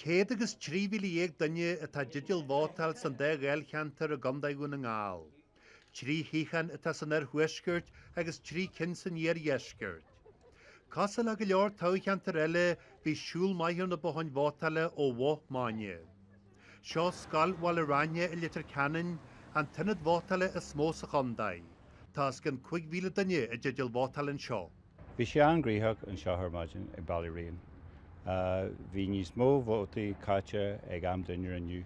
Céad agus trí mhíle dhéag duine atá i dteideal vótáil san dá dháilcheantar i gContae Dhún na nGall. Trí shuíochán atá san oirthuaisceart agus trí cinn san iardheisceart. Cosúil le go leor toghcheantar eile bhí siúl maith ar na botháin vótála ó mhoch maidine. Seo scoil Bhaile Raithne i Leitir Ceanainn, an t-ionad vótála is mó sa chontae. Tá os cionn cúig mhíle duine i dteideal vótáil anseo. Bhí sé an-ghnoitheach anseo ar maidin ag Ballyraine. Bhí níos mó vótaí caite ag am dinnéir inniu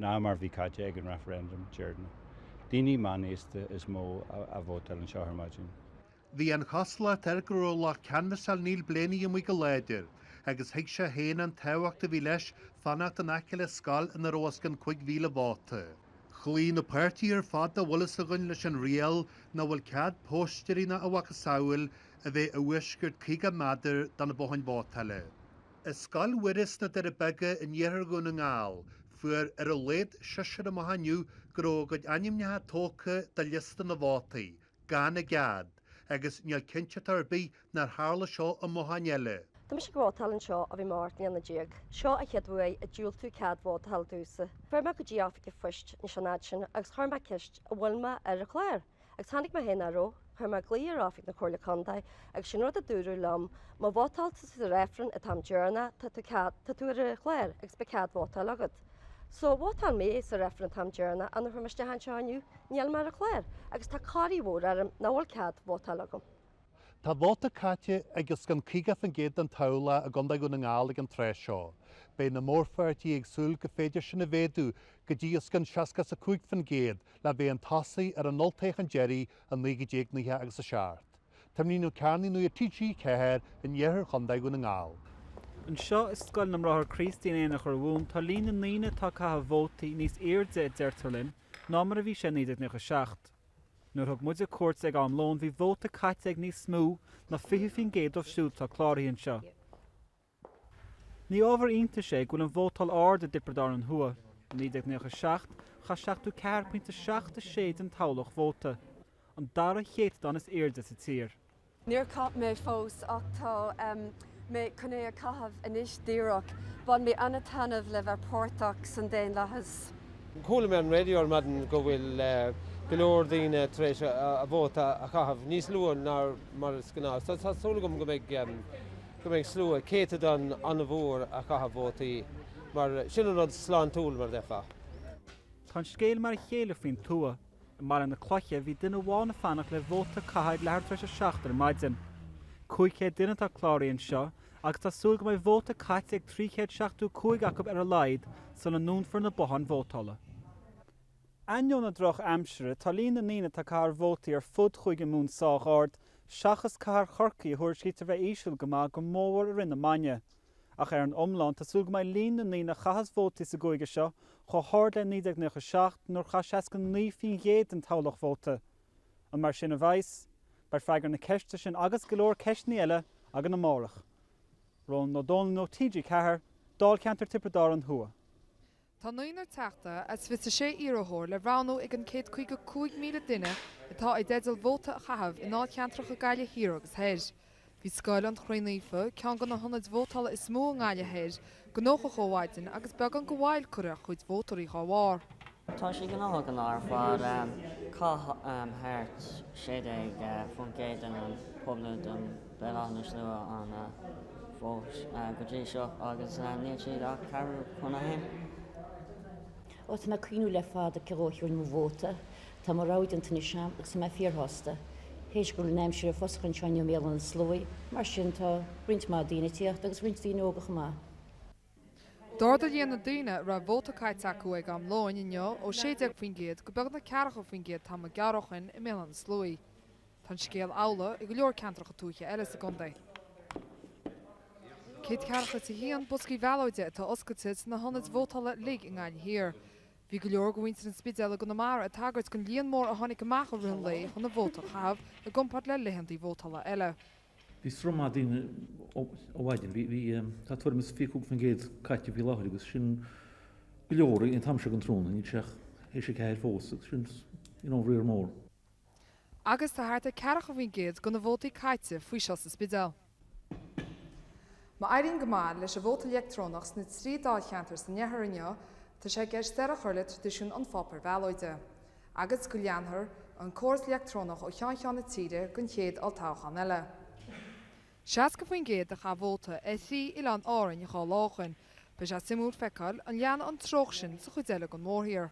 ná mar bhí caite ag an referendum deireanach. Daoine meánaosta is mó a vótáil anseo ar maidin. Bhí an chosúlacht air go raibh lucht canbhasáil Niall Blaney amuigh go láidir agus thuig sé féin an tábhacht a bhí leis fanacht in aice le scoil ina raibh os cionn 5,000 vóta. Chloígh na páirtithe ar fad dá bhfuil fhios againn leis an riail nach bhfuil cead póstaeirí ná a mhacasamhail a bheith i bhfoisceacht 50 méadar do na botháin vótála. I Scoil Mhuire sna Doirí Beaga in iarthar Dhún na nGall, fuair ar a laghad seisear amach inniu go raibh a gcuid ainmneacha tógtha de liosta na vótaí, gan a gcead, agus níl cinnteacht ar bith nár tharla seo i mbotháin eile. Tá mise ag vótáil anseo ó bhí mé ocht mbliana déag. Seo an chéad uair a diúltaíodh cead vótála domhsa. Chuaigh mé go dtí oifig an phoist anois an fhad sin agus chuir mé ceist an bhfuil mé ar an chlár agus chonaic mé féin nach raibh. Chuir mé glao ar oifig na Comhairle Contae agus sin rud a dúradh liom, má vótáil tú sa reifreann an t-am deireanach tá tú ar an chlár agus beidh cead vótáil agat. Só vótáil mé sa reifreann an t-am deireanach nuair a chuaigh mé isteach anseo inniu, níl mé ar an chlár, agus tá corraí mhór orm nach bhfuil cead vótáil agam. Tá vóta caite ag os cionn 50% den toghlach i gContae Dhún na nGall ag an tráth seo. Beidh na mórpháirtithe ag súil go féidir sin a mhéadú go dtí os cionn 65% le bheith chun tosaigh ar an olltoghchán deiridh i 1997. Tiarnán Ó Cearnaigh, Nuacht TG4 in iarthar Chontae Dhún na nGall. Anseo i Scoil na mBráithre Críostaí in Aonach Urmhumhan tá líon na ndaoine atá ag caitheamh vótaí níos airde a deirtear linn ná mar a bhí sé i 1997. Nuair a thug muide cuairt ag am lóin bhí vóta caite ag níos mó ná 20% díobh siúd atá cláraithe anseo. Ní ábhar iontais é go bhfuil an vótáil ard i dTiobraid Árann Thuaidh. I 1997 chaith 74.76 den toghlach vóta, an dara céatadán is airde sa tír. Níor chaith mé fós ach tá mé chun é a chaitheamh anois díreach. Bhain mé an-taitneamh le bheith páirteach san daonlathas. Chuala mé ar an raidió ar maidin go bhfuil go leor daoine tar éis a vóta a chaitheamh, níos luaithe ná mar is gnáth, so tá súil agam go mbeidh. go mbeidh slua, céatadán an-mhór a chaithfidh vótaí mar sin an rud sláintiúil mar bheifeá. Tá an scéal mar a chéile faoin tuath. I mBaile na Cloiche bhí duine amháin ag fanacht le vóta a chaitheamh ag leathuair tar éis a seacht ar maidin. 500 duine atá cláraithe anseo agus tá súil go mbeidh vóta caite ag 375 acu ar a laghad sula ndúnfar na botháin vótála. ainneoin an drochaimsire, tá líon na ndaoine atá ag caitheamh vótaí ar fud Chúige Mumhan sách ard, seachas cathair Chorcaí a thuairiscítear a bheith íseal go maith go mór i rith na maidine. Ach ar an iomlán, tá súil go mbeidh líon na ndaoine a chaitheas vótaí sa gcúige seo chomh hard le 1997 nuair chaith 69% den toghlach vóta. An mar sin a bheas? Beidh freagra na ceiste sin agus go leor ceisteannaí eile againn amárach. Rónán Ó Domhnaill, TG4, Dáilcheantar Tiobraid Árann Thuaidh. Tá naonúr teachta as 26 iarrthóir le roghnú ag an 155,000 duine atá i dteideal vóta a chaitheamh i ndáilcheantracha Ghaillimh Thiar agus Thoir. Bhí Scoil an Chroí Naofa, ceann de na hionaid vótála is mó i nGaillimh Thoir, gnóthach ó mhaidin agus beagán de mhoill curtha ar chuid vótóirí dá bharr. Tá sé gnóthach go n-áireofar cá háit thart 16% den an pobal don Béal Átha na Sluaighe ann fós go dtí seo agus níl sé ach ceathrú chun a haon. Ó, tá mé ag cuimhniú le fada cé dhó a thiúrfainn mo vóta. Tá mo rogha déanta anois agam agus tá mé fíorshásta. Théis go bhfuil an aimsir ag foscadh anseo i mBéal Átha na Sluaighe, mar sin, tá roinnt mhaith daoine ag tíocht agus roinnt daoine óga chomh maith. D'ardaigh líon na ndaoine a raibh vóta caite acu ag am lóin inniu ó 16% go beagnach 40% tamall gearr ó shin i mBéal Átha na Sluaighe. Tá an scéal amhlaidh i go leor ceantracha tuaithe eile sa gcontae. Céad ceathracha is a haon bosca ballóide atá oscailte sna hionaid vótála uilig i nGaillimh Thiar. Bhí go leor de mhuintir an Spidéil i gConamara ag tagairt don líon mór a tháinig amach i rith an lae chun a vóta a chaitheamh i gcomparáid le laethanta vótála eile. Bhí sruth maith daoine ó mhaidin. Bhí, bhí, tá tuairim is 25% caite faoi láthair agus sin go leor ag an am seo den tráthnóna. Níl sé ach théis a ceathair fós agus sin, you know, riar mór. Agus tá thart ar ceathracha faoin gcéad de na vótaí caite faoi seo sa Spidéal. Má éiríonn go maith leis an vóta leictreonach sna trí dáilcheantar san oirthear inniu tá sé i gceist deireadh a chur le traidisiún an pháipéir bhallóide agus go leanfar an córas leictreonach ó cheann ceann na tíre don chéad olltoghchán eile. 60% a chaith vóta ar thrí oileán Árainn dhá lá ó shin. Beidh sé suimiúil feiceáil an leanfaidh an treocht sin sa chuid eile den mhórthír.